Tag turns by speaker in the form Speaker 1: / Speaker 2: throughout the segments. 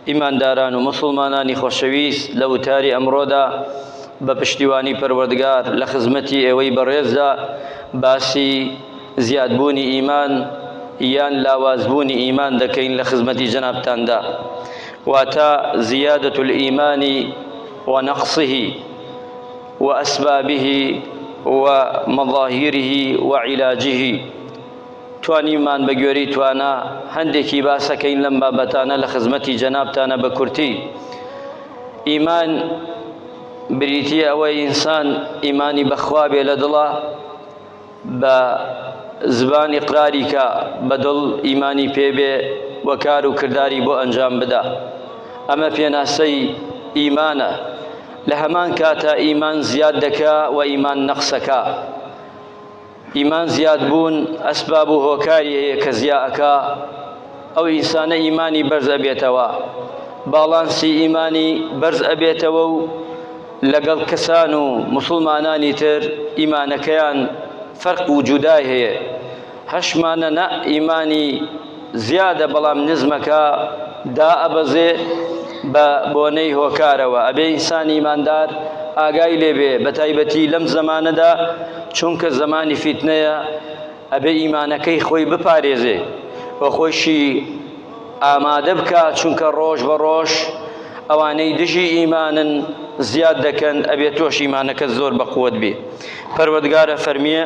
Speaker 1: ئیمانداران و موسڵمانانی خۆشەویست لە وتاری ئەمڕۆدا بە پشتیوانی پەروەردگار لە خزمەتی ئێوەی بەڕێزدا باسی زیادبوونی ئیمان یان لاوازبوونی ئیمان دەکەین لە خزمەتی جەنابتاندا واتە زیادەت الئیمانی و نەقصه و ئەسبابه و مەظاهیره و علاجه توانیومان بە گوێرەی توانا هەندێکی باسە کەین لەم بابەتانە لە خزمەتی جەنابتانە بە کورتی ئیمان بریتیە ئەوە ئینسان ئیمانی بەخوا بێ لە دڵە بە زبانی قراری کە بە دڵ ئیمانی پێبێ و کار و کردداری بۆ ئەنجام بدا ئەمە پێناسەی ئیمانە لە هەمان کاتە ئیمان زیاد دەکا و ئیمان نەقسەکە ئیمان زیاد بوون ئەسباب و هۆکاری هەیە کە زیا ئەکا ئەو ئینسانە ئیمانی بەرز ئەبێتەوە باڵانسی ئیمانی بەرز ئەبێتەوە و لەگەڵ کەسان و مسلمانانی تر ئیمانەکەیان فەرق و جودای هەیە هەشمانە نە ئیمانی زیادە بەڵام نزمەکە دائەبەزێ بە بۆنەی هۆکارەوە ئەبێ ئینسانی ئیماندار ئاگای لێبێ بە تایبەتی لەم زەمانەدا چونکە زەمانی فیتنەیە ئەبێ ئیمانەکەی خۆی بپارێزێ و خۆشی ئامادە بکە چونکە ڕۆژ بە ڕۆژ ئەوانەی دژی ئیمانن زیاد دەکەن ئەبێ تۆش ئیمانەکە زۆر بەقوت بێ پەروەگارە فەرمیە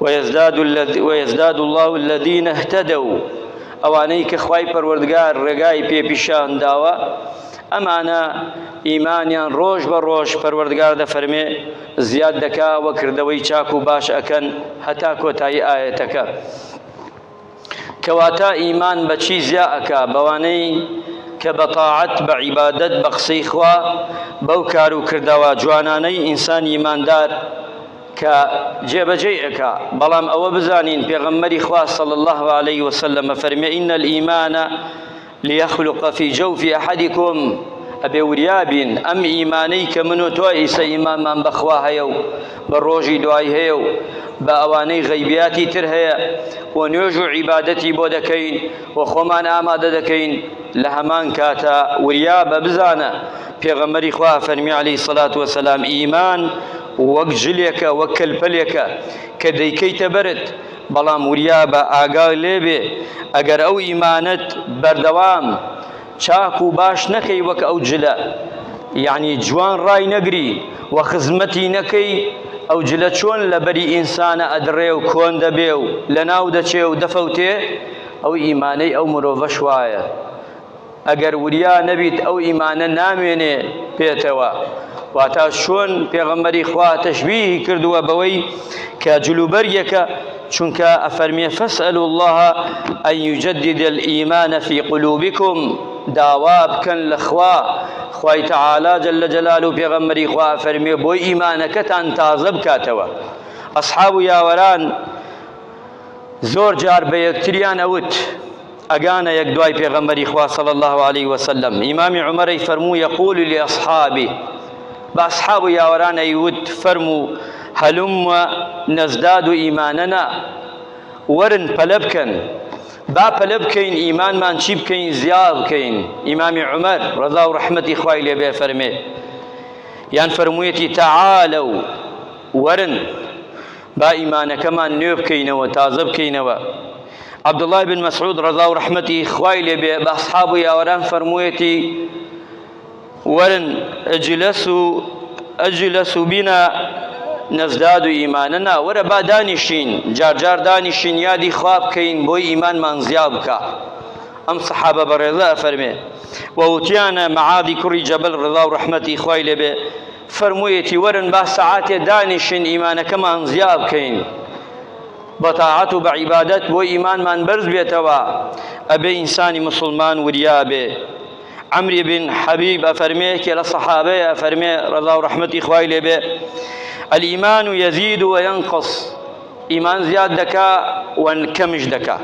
Speaker 1: ویزداد اللە الذین اهتدوا ئەوانەی کە خوای پەروەردگار ڕێگای پێ پیشان داوە ئەمانە ئیمانیان ڕۆژ بە ڕۆژ پەروەردگار دەفەرمێ زیاد دەکا وە کردەوەی چاک و باش ئەکەن هەتا کۆتایی ئایەتەکە کەواتە ئیمان بە چی زیا ئەکا بەوانەی کە بە تاعەت بە عیبادەت بە قسەی خوا بەو کار و کردەوە جوانانەی ئینسان ئیماندار کە جێبەجێی ئەکا بەڵام ئەوە بزانین پێغەمبەری خوا صلی اللە علیە وسلم ئەفەرمێ ان الایمان لیخلق فی جوف احدکم، ئەبێ وریابین ئەم ئیمانەی کە من و تۆ ئیسە ئیمانمان بە خوا هەیە و بە ڕۆژی دوای هەیە و بە ئەوانەی غەیبیاتی تر هەیە و نوێژ و عیبادەتی بۆ دەکەین و خۆمان ئامادە دەکەین لە هەمان کاتا وریابە بزانە پێغەمبەری خوا فەرمی علیه الصلاة والسلام ئیمان وەک جلێکە وەک کەلپەلێکە کە دەیکەیتە بەرت بەڵام وریابە ئاگات لێبێ ئەگەر ئەو ئیمانەت بەردەوام چاک و باش نەکەی وەک ئەو جلە یعنی جوان ڕای نەگری و خزمەتی نەکەی ئەو جلە چۆن لەبەری ئینسانە ئەدڕێ و کۆن دەبێ و لەناو دەچێ و دەفەوتێ ئەو ئیمانەی ئەو مرۆڤەش وایە ئەگەر وریا نەبیت ئەو ئیمانە نامێنێ پێتەوە واتا چۆن پێغەمبەری خوا تەشبیهی کردووە بەوەی کە جلوبەرگێکە چونکە ئەفەرمێ فەسەل الله ئەن یجدد الإیمان فی قلوبکم داوا بکەن لە خوا خوای تعالی جل جلال و پێغەمبەری خوا فەرمێ بۆی ئیمانەکەتان تازە بکاتەوە ئەصحاب و یاوەران زۆر جار بە یەکتریان ئەوت ئەگانە یەک دوای پێغەمبەری خوا صلی اللە علیە وسلم ئیمامی عمرەی فەرموو یقول لأصحابی بە ئەصحاب و یاوەرانەی وت فەرموو هەلم و نەزداد و ئیمانەنا وەرن پەلە بکەن با پەلە بکەین ئیمانمان چی بکەین زیاد بکەین ئیمامی عمر ڕەزا و ڕەحمەتی خوای لێ بێ فەرمێ یان فەرموویەتی تعالوا وەرن با ئیمانەکەمان نوێ بکەینەوە تازە بکەینەوە عبدالله بن مسعود رضا و رحمتی خوای لێ بێ بە اصحاب و یاوەران فەرموویەتی وەرن اجلس و اجلس و بینا نەزداد و ئیمانە نا وەرە با دانیشین جارجار دانیشین یادی خواب بکەین بۆی ئیمانمان زیاد بکە ئەم سەحابە بەڕێزە ئەفەرمێ ووتیانە مەعادی کوڕی جەبل ڕضا و ڕحمەتی خوای لێبێ فەرموویەتی وەرن با سەعاتێ دانیشین ئیمانەکەمان زیا بکەین بە تاعەت و بە عیبادەت بۆ ئیمانمان بەرز بێتەوە ئەبێ ئینسانی مسلمان وریا بێ عمری بن حبیب ئەفەرمێ کێ لە صحابەیە ئەفەرمێ ڕەزا و ڕەحمەتی خوای لێبێ الإيمان يزيد وينقص ئیمان زیاد دەکا و کەمیش دەکا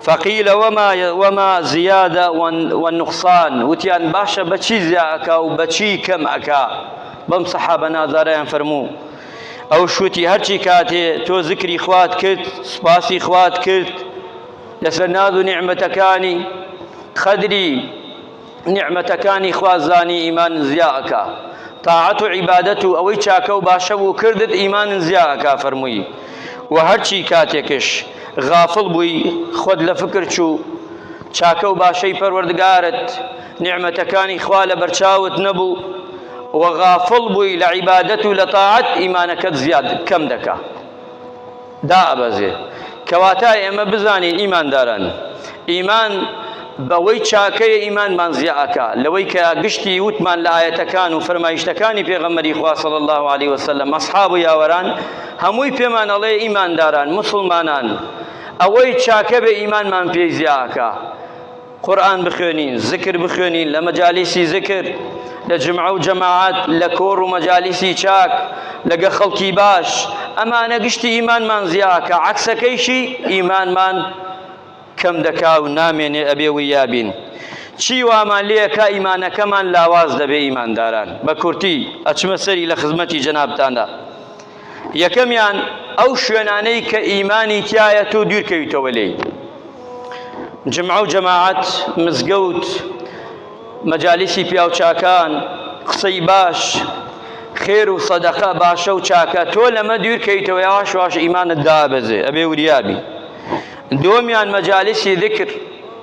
Speaker 1: فقیل وما وما زیادە والنقصان وتیان باشە بەچی زیا ئەکا و بەچی کەم ئەکا بەم سەحابە نازارەیان فەرموو ئەو شوتی هەرچی کاتێ تۆ ذکری خوات کرد سپاسی خوات کرد لەسەر ناز و نیعمەتەکانی قەدری نیعمەتەکانی خوا زانی ئیمانت زیا ئەکا تاعەت و عیبادەت و ئەوەی چاکە و باشە بوو کردت ئیمانت زیا ئەکا فەرمووی وە هەرچی کاتێکش غافڵ بووی خۆت لە فکر چوو چاکە و باشەی پەروەردگارت نیعمەتەکانی خوا لە بەرچاوت نەبوو وە غافڵ بووی لە عیبادەت و لە تاعەت ئیمانەکەت زیاد کەم دەکا دائەبەزێ، کەواتا ئێمە بزانین ئیمانداران ئیمان بەوەی چاکەیە ئیمانمان زیا ئەکا لەوەی کە گشتی وتمان لە ئایەتەکان و فەرمایشتەکانی پێغەمبەری خوا صلی اللە علیە وسلم اصحاب و یاوەران هەمووی پێمان ئەڵێ ئیمانداران موسڵمانان ئەوەی چاکەبێ ئیمانمان پێی زیا ئەکا قورئان بخوێنین، زکر بخوێنین لە مەجالیسی زکر، لە جمعە و جەماعەت، لە کۆڕ و مەجالیسی چاک، لەگە خەڵکی باش، ئەمانە گشتی ئیمانمان زیا ئەکا، عەکسەکەیشی ئیمانمان کەم دەکا و نامێنێ ئەبێ ویا بین. چی وامان لێ ئەکا ئیمانەکەمان لاواز دەبێ ئیمانداران؟ بە کورتی ئەچمە سەری لە خزمەتی جەنابتاندا. یەکەمیان، ئەو شوێنانەی کە ئیمانی تیایەت و دوورکەویتەوە لێی، جمعە و جەماعەت، مزگەوت، مەجالیسی پیاوچاکان، قسەی باش، خێر و سەدەقە، باشە و چاکە، تۆ لەمە دوورکەویتەوە یەواش یەواش ئیمانت دابەزێ، ئەبێ وریابی. دووەمیان، مەجالیسی ذیکر،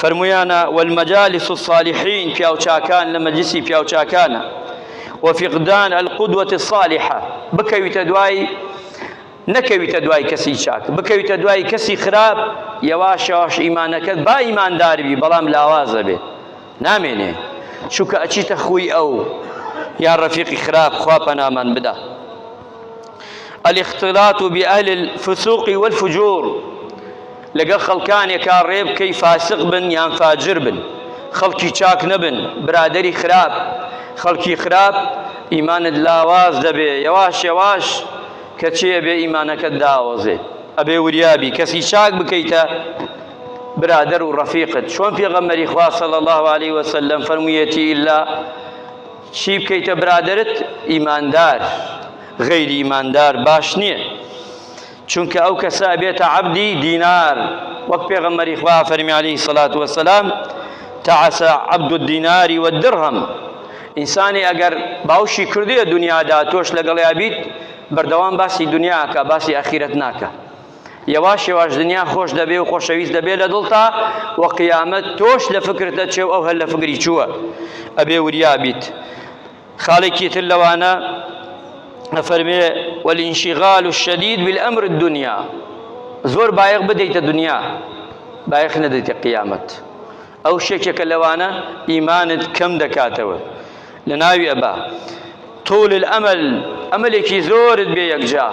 Speaker 1: فەرموویانە، والمجالس الصالحین، پیاوچاکان لە مەجلیسی پیاوچاکانە، وفقدان القدوة الصالحە، بکەویتە دوای نەکەویتە دوای کەسی چاک، بکەویتە دوای کەسی خراپ، یەواش یەواش ئیمانەکەت با ئیماندار بی بەڵام لاواز ئەبێ نامێنێ چونکە ئەچیتە خووی ئەو یا ڕەفیقی خراپ خوا پەنامان بدا الاختلاط بأهل الفسوق والفجور لەگەڵ خەڵکانێکا ڕێبکەی فاسق بن یان فاجر بن خەڵکی چاک نەبن برادەری خراپ خەڵکی خراپ ئیمانت لاواز دەبێ یەواش یەواش کەچی ئەبێ ئیمانەکەت داوەزێ ئەبێ وریابی کەسی چاک بکەیتە برادر و ڕەفیقت چۆن پێغەمەری خوا صلی الله علیه وسلم فەرموویەتی ئیلا چی بکەیتە برادرت ئیماندار غەیری ئیماندار باش نییە چونکە ئەو کەسە ئەبێتە عەبدی دینار وەک پێغەمبەری خوا فەرمی عەلەیهی سەڵات وەسەلام تعسە عەبد الدیناری والدرهم ئینسانی ئەگەر باوشی کردیە دنیادا تۆش لەگەڵیا بیت بەردەوام باسی دنیاکە باسی ئاخیرەت ناکە یەواش یەواش دنیا خۆش دەبێ و خۆشەویست دەبێ لە دڵتا و قیامەت تۆش لە فکرتە چێ و ئەو هەر لە فکری چووە ئەبێ وریا بیت خاڵێکی تر لەوانە ئەفەرمێ والانشغال الشدید بالامر الدنیا زۆر بایەخ بدەیتە دنیا بایەخ نەدەیتە قیامەت ئەو شێکێکە لەوانە ئیمانت کەم دەکاتەوە لە ناوی ئەبا طول الامل ئەمەلێکی زۆرت بێ یەکجا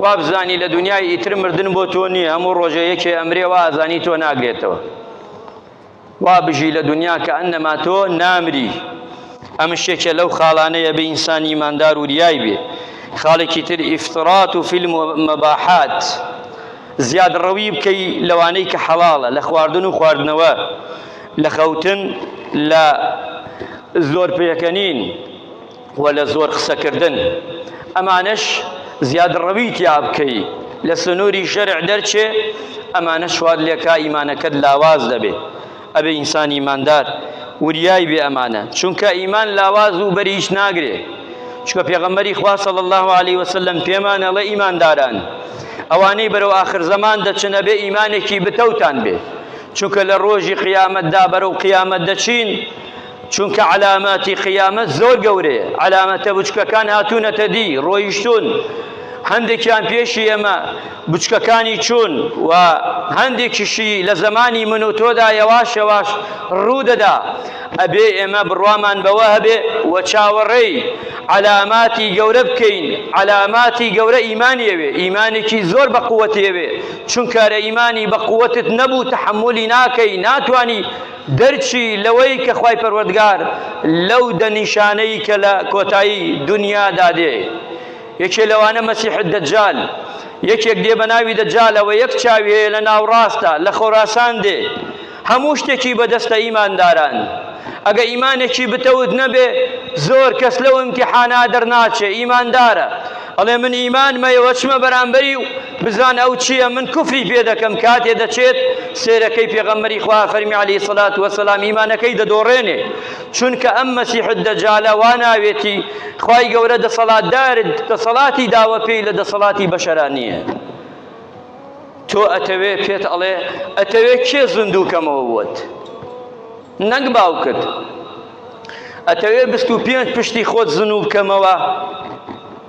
Speaker 1: وابزانی لە دنیای ئیتر مردن بۆ تۆ نییە هەموو ڕۆژێ یەکێ ئەمرێ و ئازانی تۆ ناگرێتەوە وا بژی لە دونیا کە ئەنەما تۆ نامری. ئەمش یەکێ لەو خاڵانەی ئەبێ ئینسانی ئیماندار وریای بێ. خاڵێکی تر ئیفراط فی المباحات، زیاد ڕەوی بکەی لەوانەی کە حەڵاڵە لە خواردن و خواردنەوە، لە خەوتن، لە زۆر پێکەنین. وە لە زۆر قسەکردن ئەمانەش زیادڕەوی تیا بکەی لە سنوری شەرع دەرچێ ئەمانەش وات لێکا ئیمانەکەت لاواز دەبێ ئەبێ ئینسان ئیماندار وریای بێ ئەمانە چونکە ئیمان لاواز و بەریش ناگرێ چونکە پێغەمبەری خوا صلی الله علیه وسلم پێمان ئەڵێ ئیمانداران ئەوانەی بەرەو آخر زەمان دەچن ئەبێ ئیمانێکی بتەوتان بێ چونکە لە ڕۆژی قیامەتدا بەرەو قیامەت دەچین چونکە عەلاماتی قیامەت زۆر گەورەیە، عەلامەتە بچکەکان هاتوونەتە دی، ڕۆیشتوون، هەندێکیان پێشی ئێمە بچکەکانی چوون و هەندێکیشی لە زەمانی من و تۆدا یەواش یەواش ڕوو دەدا، ئەبێ ئێمە بڕوامان بەوە هەبێ و چاوەڕێی عەلاماتی گەورە بکەین، عەلاماتی گەورە ئیمان یەوێ، ئیمانێکی زۆر بە قووەت یەوێ، چونکە ئەرە ئیمانی بە قووەتت نەبوو تەحەمولی ناکەی، ناتوانی. دەرچی لەوەی کە خوای پەروەردگار لەو دە نیشانەی کە لە کۆتایی دونیادا دێ یەکێ لەوانە مەسیح الدجال یەکێک دێ بە ناوی دەجالە وە یەک چاوی هەیە لە ناوڕاستە لە خۆراسان دێ هەموو شتێکی بەدەستە ئیمانداران ئەگە ئیمانێکی بتەوت نەبێ زۆر کەس لەو ئیمتیحانا دەرناچێ ئیماندارە ئەڵێ من ئیمان مەیەوە چمە بەرامبەری و بزان ئەو چییە من کوفری پێ دەکەم کاتێ دەچێت سێرەکەی پێغەمبەری خوا فەرمی علی سەلات وەسەلام ئیمانەکەی دەدۆڕێنێ چونکە ئەم مەسیحت دەجالە وا ناوێتی خوای گەورە دەسەڵاتدار دەسەڵاتی داوە پێی لە دەسەڵاتی بەشەرانیە تۆ ئەتەوێ پێت ئەڵێ ئەتەوێ کێ زندووکەمەوە بووت نەنگ باوکت ئەتەوێ بیست و پێنج پشتی خۆت زنوو بکەمەوە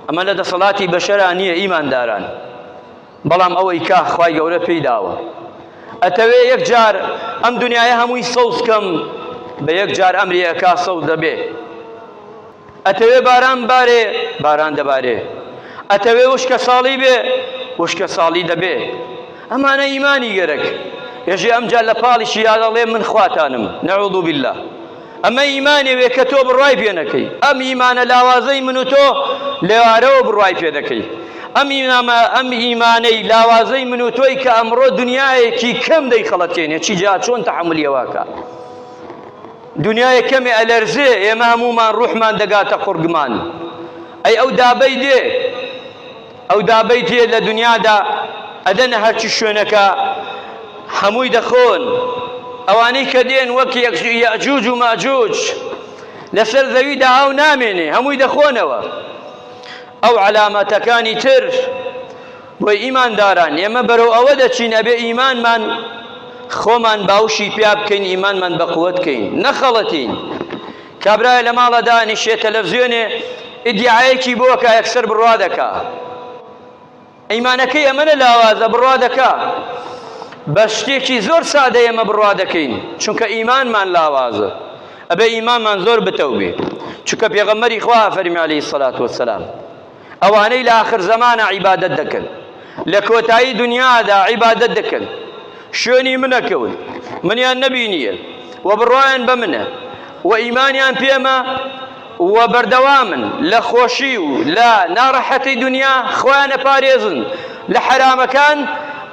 Speaker 1: ئەمە لە دەسەڵاتی بەشەرا نییە ئیمانداران بەڵام ئەوەی کا خوای گەورە پێی داوە ئەتەوێ یەک جار ئەم دنیاە هەمووی سەوز کەم بە یەک جار ئەمری ئەکا سەوز دەبێ ئەتەوێ باران بارێ باران دەبارێ ئەتەوێ وشکە ساڵی بێ وشکە ساڵی دەبێ ئەمانە ئیمانی گەرەک ئێژێ ئەمجا لە پاڵیشی یادەڵێ من خواتانم نعوذ باللە ئەمە ئیمانێ وێ کە تۆ بڕوای پێ نەکەی ئەم ئیمانە لاوازەی من و تۆ لەوارەوە بڕوای پێ دەکەی ئەم ئیمامە ئەم ئیمانەی لاوازەی من و تۆی کە ئەمڕۆ دنیایەکی کەم دەی خەڵەتێنێ چی جا چۆن تەحملیەوەکە دنیای کەمێ ئەلەرزێ ئێمە هەمومان ڕوحمان دەگاتە قڕگمان ئەی ئەو دابەی دێ ئەو دابەی جیە لە دنیادا ئەدەنە هەرچی شوێنەکە هەمووی دەخۆن ئەوانەی کە دێن وەک یەجوج و ماجوج لەسەر زەویدا ئاو نامێنێ هەمووی دەخۆنەوە ئەو علامەتەکانی تر بۆی ئیمانداران ئێمە بەرەو ئەوە دەچین ئەبێ ئیمانمان خۆمان باوشی پیا بکەین ئیمانمان بە قوت بکەین نەخەڵەتین کابرایە لە ماڵا دانیشێ تەلەفزیۆنێ ئیدیعایەکی بۆ ئەکا یەکسەر بڕوا دەکا ئیمانەکەی ئەمە لە لاوازە بڕوا دەکا بە شتێکی زۆر سادە ئێمە بڕوا دەکەین چونکە ئیمانمان لاوازە ئەبێ ئیمانمان زۆر بتەو بێ چونکە پێغەمەری خوا فەرمی عەلەیهی سەلات وەسەلام ئەوانەی لە ئاخر زەمانە عیبادەت دەکەن لە کۆتایی دنیادا عیبادەت دەکەن شوێنی منەکەون منیان نەبینیە و بڕایان بە منە و ئیمانیان پێمە و بەردەوامن لە خۆشی و لە ناڕەحەتی دنیا خۆیانە پارێزن لە حەرامەکان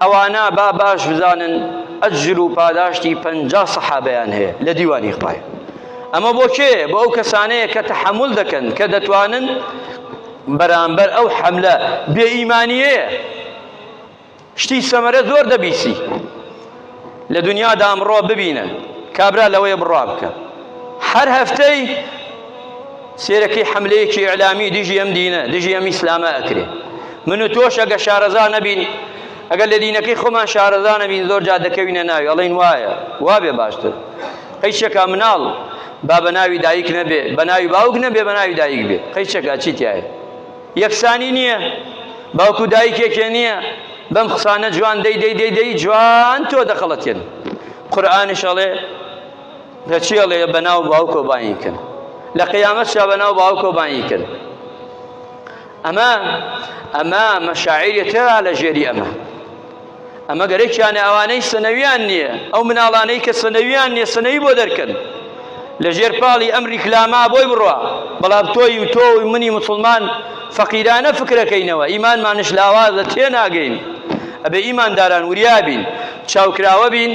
Speaker 1: ئەوانە با باش بزانن ئەجر و پاداشتی پەنجا سەحابەیان هەیە لە دیوانی خوایە ئەمە بۆ کێ؟ بۆ ئەو کەسانەیە کە تەحەمول دەکەن، کە دەتوانن بەرامبەر ئەو حەملە بێ ئیمانیەیە شتی سەمەرە زۆر دەبیسی لە دنیادا ئەمڕۆ ببینن کابرا لەوەیە بڕا بکە هەر هەفتەی سێرەکەی حملەیەکی ئەلامی دژی ئەم دینە دژی ئەم ئیسلامە ئەکرێ من و تۆش ئەگە شارەزا نەبین ئەگەر لە دینەکەی خۆمان شارەزا نەبین زۆر جا دەکەوینە ناوی ئەڵین وایە وا بێ باشتر قیچەکە مناڵ با بەناوی دایک نەبێ بەناوی باوک نەبێ بەناوی دایک بێ قیچەکە چی تایە یەکسانی نییە باوکو دایکێکێ نییە بەم قسانە جوان دەی دەی دەی دەی جوان تۆ دەخەڵەتێن قورآانش ئەڵێ دەچی ئەڵێ بەناو باوکۆ باین کرد لە قیامەت شا بەناو باوکۆ باین کرد ئەمە ئەمە مەشاعری تێرا لە ژێری ئەمە ئەمە گەرەکیانە ئەوانەی سنەویان نییە ئەو مناڵانەی کە سنەویان نییە سنەوی بۆ دەرکەن لە ژێر پاڵی ئەم ریکلاما بۆی بڕوا بەڵام تۆی و تۆ و منی مسلمان فەقیرانە فکرەکەینەوە ئیمانمانش لاوازە تێناگەین ئەبێ ئیمانداران وریابین چاوکراوە بین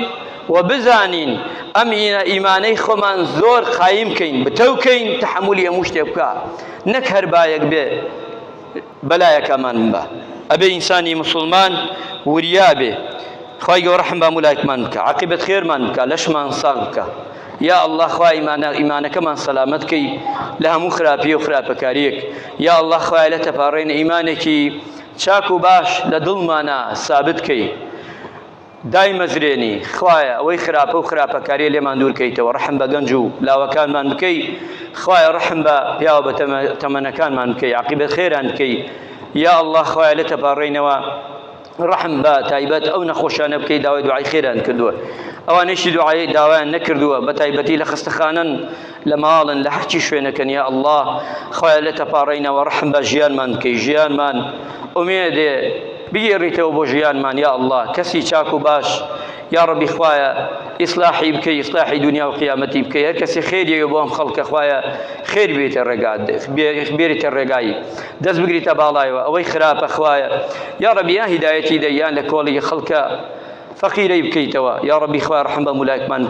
Speaker 1: و بزانین ئەم ئیمانەی خۆمان زۆر قایم کەین بتەوکەین تحملی هەموو شتێ بکە نەک هەر بایەک بێ بەلایەکەمان بە ئەبێ ئینسانی موسوڵمان وریا بێ خوای گەوە ڕەحم بە مولایکمان بکە عقیبت خێرمان بکە لەشمان ساغ بکە یا الله خوای ئیمانە ئیمانەکەمان سەلامەت کەی لە هەموو خراپی و خراپەکاریەک یا الله خوای لە تەپاڕێن ئیمانێکی چاک و باش لە دڵمانە سابت کەی دایمەزرێنی، خوایە ئەوەی خراپە و خراپەکاریە لێمان دوور کەیتەوە، ڕەحم بە گەنج و لاوەکانمان بکەی، خوایە ڕەحم بە پیاوە بە تەمەنەکانمان بکەی عاقیبەت خێران بکەی یا اللە، خوایە لێت تەپاڕێینەوە ڕەحم بە تایبەت ئەو نەخۆشانە بکەی داوای دوعای خێران کردووە ئەوانەیشی دوعای داوایان نەکردووە بە تایبەتی لە خەستەخانەن، لە ماڵن لە هەرچی شوێنەکەن یا اللە خوایە لێ تەپاڕێینەوە ڕەحم بە ژیانمان بکەی ژیانمان ئومێدێ بگێڕیتەوە بۆ ژیانمان یا اللە کەسی چاک و باش یا ڕەبی خوایە ئیسلاحی بکەی ئیسلاحی دنیا و قیامەتی بکەی هەر کەسی خێریەوە بۆ ئەم خەڵکە خوایە خێر بێتە ڕێگات بێریتە ڕێگایی دەست بگریتە باڵایەوە ئەوەی خراپە خوایە یا ڕەبیە هیدایەتی دەیان لە کۆڵی خەڵکە فەقیرەی بکەیتەوە یا ڕەبی خوای ڕحم بە مولایکمان بکەی